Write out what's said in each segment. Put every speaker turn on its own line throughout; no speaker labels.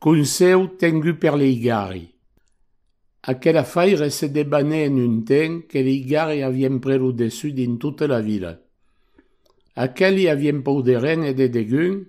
Conseu tengut per leigari. Aquela faire se debanè en un temps que leigari avien pres lo dessus dins tota la vila. Aqueli avien pòu de ren e de degun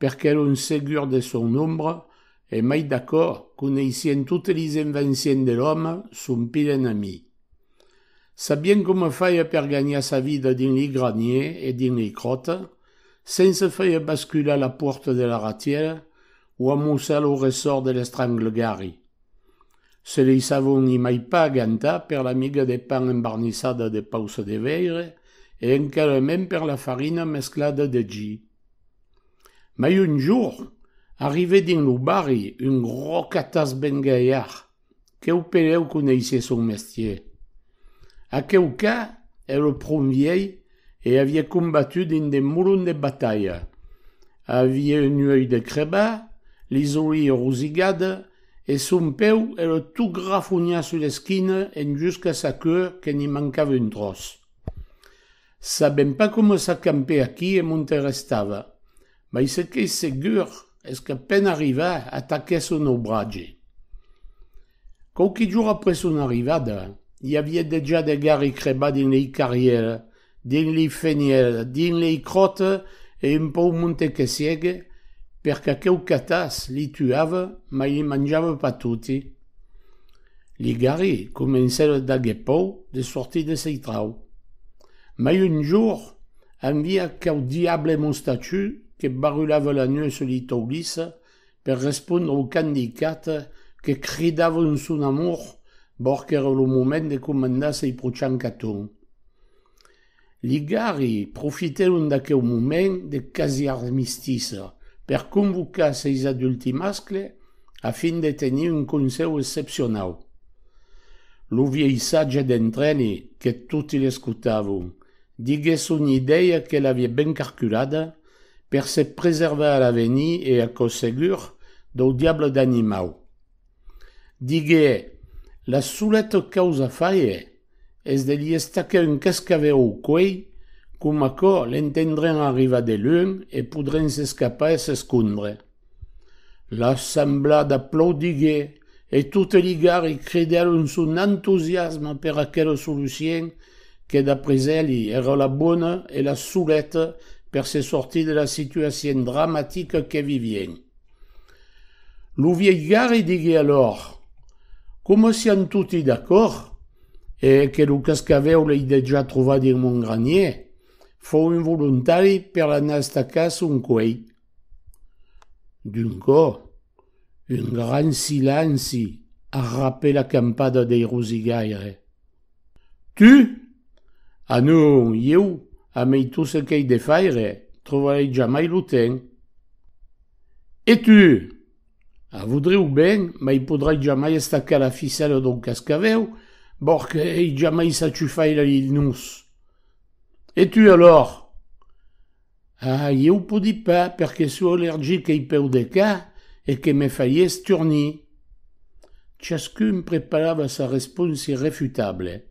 perque lo segur de son nombre e mai d'aquò coneissien totes lis envencients de l'òme son pil enemi. Sabien coma faire per gagnar sa vida dins li graniers e dins li cròtes, Sense faire bascular la pòrta de la ratièra o amossar lo ressòrt de l'estranglegari. Se lei savon i mai pas gantar per la miga de pan embarnissada de pausa de veire e encara mens per la farina mesclada de gi. Mai un jorn, arrivè dins lo barri un gròc atas bengalhar que'u pereu coneissie son mestier. Aqueu qu'a er lo pron viei e avie combatut dins de molon de batalha. Avie un uei de creba, li zolie rosigade e son peu era tot grafonhat sus l'esquina en jusca sa cua que n'i mancava un tròç. Sabèm pas coma s'acampè aquí e m'ont restava, mai ce qu'ei segur es qu'a peine arrivà ataquè son naubratge. Quauqui jorn après son arrivada, i aviá dejà de garri crebat dins lei carrièr, dins lei fenièr, dins lei cròt e un pauc monte que siègue, per qu'aqueu catàs li tuava mai li manjava pas toti. Li garri comencèron d'aguer pòur de sortir de sei trau. Mai un jorn, envia aqueu diable mostachu que barulava la nuèu sus li taulís per respondre au can dicat que cridavon son amor, bòr qu'èra lo moment de comandar sei prochain caton. Ligari profitèron d'aqueu moment de quasi-armistiça per convocar seis adulti mascle a fin de tenir un concèu excepcionau. Lo vielhissatge d'entreni que toti l'escotavon diguèt son idèia que l'avia ben carculada per se preservar a l'avenir e aquò segur dau diable d'animau. Digué, La soleta causa faie es de li estacar un cascavèu au cuelh, com aquò l'entendràn arribar de lunh e podràn s'escapar e s'escondre. L'assemblada aplaudigué e totes li garri cridèron son entusiasme per aquela solucien que d'après eli èra la bona e la soleta per se sortir de la situacion dramatica que vivien. Lo viejari digué alòr, Coma sián toti d'acòrd, e que lo cascavèu l'ei dejà trovat dins mon granier, fau un volontari per anar estacar son cuei. D'un cò, un gran silenci arrapè la campada dei rosigaire. Tu? A non, ieu, amei tot ce qu'ei de faire, trobarei jamai lo temps. E tu? A voudreu ben, mai podrai jamai estacar la ficèla dau cascavèu, bòrque ei jamai saciu faire lil nus. E tu, alors? Ah, ieu podi pas perque sò allergic ei peu de ca e que me farie esturnir. Chascun preparava sa respons irrefutable.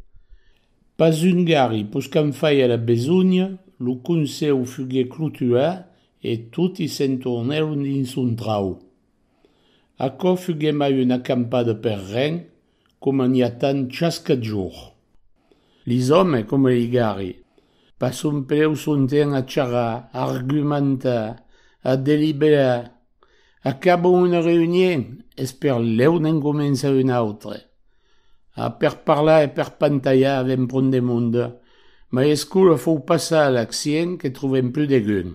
Pas un garri, pus qu'en faia la besonya, lo conseu fugué clotuat e toti se'n tornèron dins son trau. Aquò fugué mai una campada per ren, Coma n'i a tant chas qu'a jorn. Li zòme coma li garri. Pas son prèu sonten a charrar, a argumentar, a deliberar. Acabon una reünién e sper lèu n'en comença una autre. A per parlar e per pantalhar avèm pron de monde, mai escola fou pas ça l'accient que trobèm plus degun.